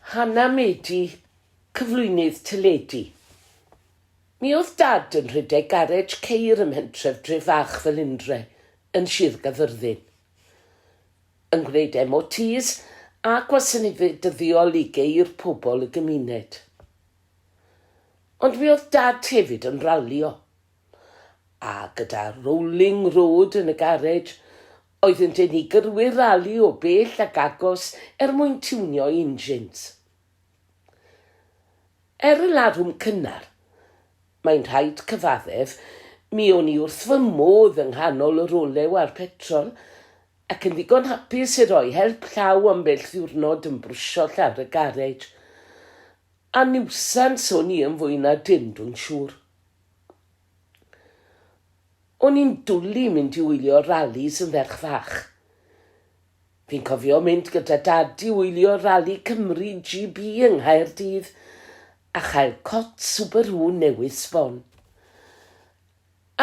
Hannah Medi, cyflwynydd teledu. Mi oedd Dad yn rhedeg garej ceir ym mhentref dref fach fel Indre, yn Sir Gaerfyrddin. Yn gwneud MOTs a gwasanaethau dyddiol i geir pobl y gymuned. Ond mi oedd Dad hefyd yn ralio. A gyda Rolling Road yn y garej, Oeddynt yn ei gyrwyr rali o bell ac agos er mwyn tiwnio'i injins. Er y larwm cynnar, mae'n rhaid cyfaddef, mi o'n i wrth fy modd yng nghanol yr olew a'r petrol, ac yn ddigon hapus i roi help llaw ambell ddiwrnod yn brwsio llawr y garej. A niwsans o'n i yn fwy na dim, dwi'n siŵr. O'n i'n dwli mynd i wylio ralis yn ferch fach. Fi'n cofio mynd gyda Dad i wylio Rali Cymru GB yng Nghaerdydd a chael cot Subaru newydd sbon.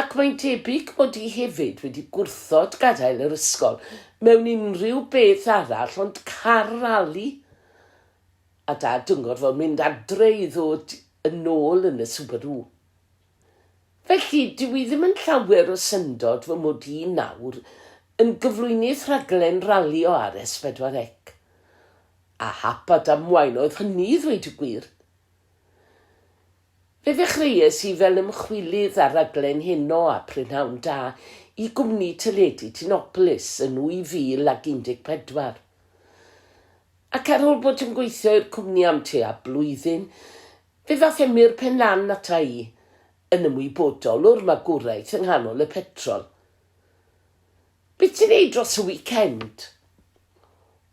Ac mae'n debyg mod i hefyd wedi gwrthod gadael yr ysgol mewn unrhyw beth arall ond car rali! A Dad yn gorfod mynd adre i ddod yn ôl yn y Subaru. Felly, dyw hi ddim yn llawer o syndod fy mod i nawr yn gyflwynydd rhaglen ralio ar S4C. A hap a damwain oedd hynny i ddweud y gwir. Fe ddechreuais i fel ymchwilydd ar raglen Heno a Prynhawn Da i gwmni teledu Tinopolis yn 2014. Ac ar ôl bod yn gweithio i'r cwmni am tua blwyddyn, Fe ddaeth Emyr Pen Lan ata i yn ymwybodol o'r magwraeth yng nghanol y petrol. Be ti'n neud dros y wicend?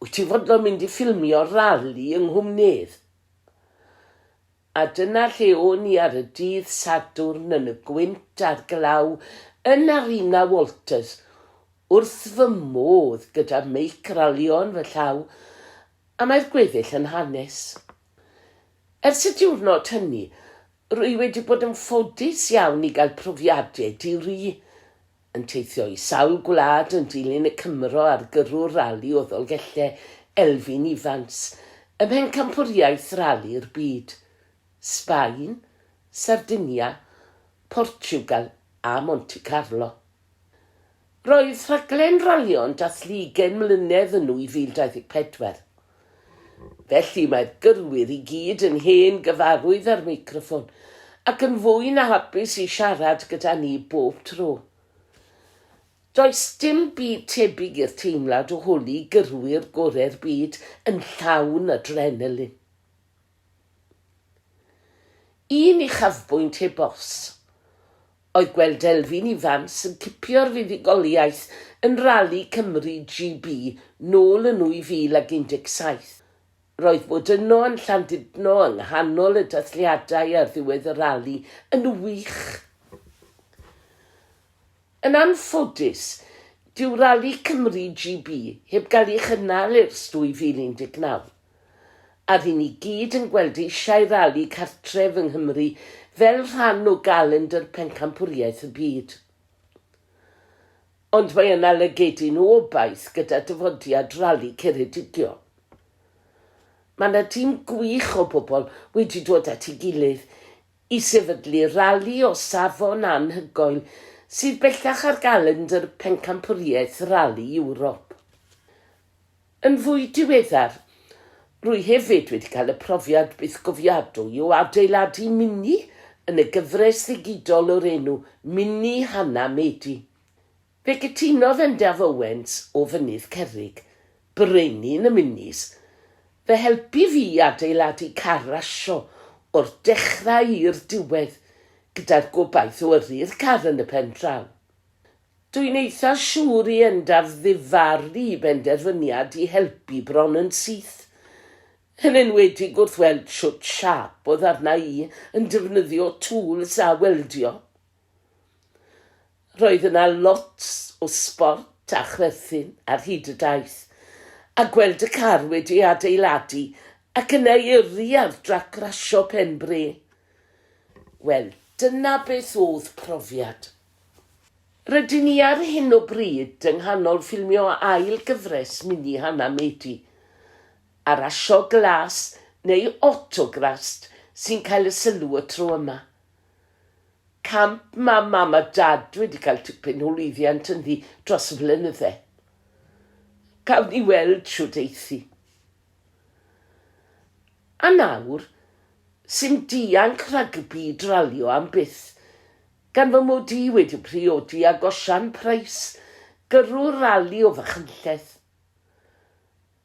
Wyt ti'n fodlon mynd i ffilmio'r rali yng Nghwmnydd? A dyna lle o'n i ar y dydd Sadwrn yn y gwynt a'r glaw yn Arena Walters, wrth fy modd gyda meic ralïo yn fy llaw, a mae'r gweddill yn hanes. Ers y diwrnod hynny, rwy wedi bod yn ffodus iawn i gael profiadau di-ri, yn teithio i sawl gwlad yn dilyn y Cymro ar gyrrwr rali o Ddolgellau, Elfyn Ifans, ym mhencampwriaeth rali'r byd, Sbaen, Sardinia, Portiwgal a Monte Carlo. Roedd rhaglen ralio'n dathlu ugain mlynedd yn 2024. Felly mae'r gyrwyr i gyd yn hen gyfarwydd â'r meicroffon ac yn fwy na hapus i siarad gyda ni bob tro. Does dim byd tebyg i'r teimlad o holi gyrwyr gorau'r byd yn llawn adrenalin. Un uchafbwynt heb os. oedd gweld Delfyn Ifans yn cipio'r fuddugoliaeth yn Rali Cymru GB nôl yn 2017. Roedd bod yno yn Llandudno yng nghanol y dathliadau ar ddiwedd y rali yn wych. Yn anffodus, dyw Rali Cymru GB heb gael ei chynnal ers 2019. a ry'n ni gyd yn gweld eisiau rali cartref yng Nghymru fel rhan o galendr pencampwriaeth y byd. Ond mae yna lygedyn o obaith gyda dyfodiad Rali Ceredigion. Mae yna dîm gwych o bobl wedi dod at ei gilydd i sefydlu rali o safon anhygoel sydd bellach ar galendr pencampwriaeth Rali Ewrop. Yn fwy diweddar, rwy hefyd wedi cael y profiad bythgofiadwy o adeiladu mini yn y gyfres ddigidol o'r enw Mini Hannah Medi. Fe gytunodd Endaf Owens o Fynydd Cerrig, Brenin y Minis, fy helpu fi i adeiladu car rasio o'r dechrau i'r diwedd, gyda'r gobaith o yrru'r car yn y pen draw. Dw i'n eitha siŵr i Endaf ddifaru i benderfyniad i helpu bron yn syth, yn enwedig wrth weld shwt siâp oedd arna i yn defnyddio tŵls a weldio. Roedd yna lot o sbort a chwerthin ar hyd y daith, a gweld y car wedi ei adeiladu ac yna i yrru ar drac rasio pen bre, wel, dyna beth oedd profiad. Rydyn ni ar hyn o bryd yng nghanol ffilmio ail gyfres mini Hana Mady, Arasio Glas neu Autograst sy'n cael y sylw y tro yma. Camp mae Mam a Dad wedi cael tipyn o lwyddiant ynddi dros y blynydde. Cawn ni weld shwt eith hi. A nawr, sim dianc rhagbi i dralio am byth. Gan fy mod i wedi priodi ag Osian Pryce, gyrrwr rali o Fachynlleth.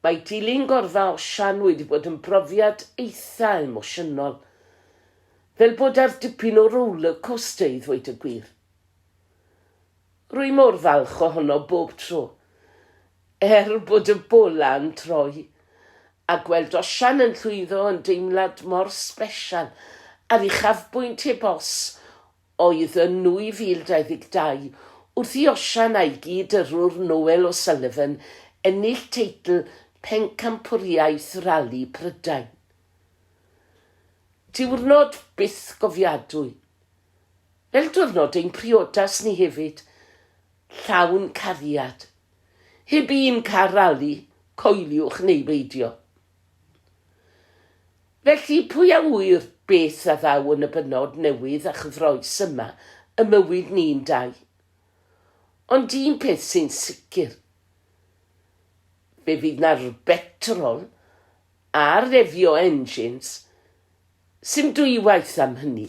Mae dilyn gorfa Osian wedi bod yn brofiad eitha' emosiynol. Fel bod ar dipyn o roller coaster i ddweud y gwir. Rwy mor falch ohono bob tro. Er bod y bola yn troi, a gweld osian yn llwyddo yn deimlad mor sbesial a'r uchafbwynt heb os oedd yn 2022 wrth i osian a'i gyd-yrrwr Noel O'Sullivan ennill teitl Pencampwriaeth Rali Prydain. Diwrnod bythgofiadwy. Fel diwrnod ein priodas ni hefyd, llawn cariad. Heb un car rali, coeliwch neu beidio. Felly, pwy a ŵyr beth a ddaw yn y bennod newydd a chyffroes yma ym mywyd ni'n dau? Ond un peth sy'n sicr, fe fydd 'na rbetrol a refio engines, sim dwywaith am hynny.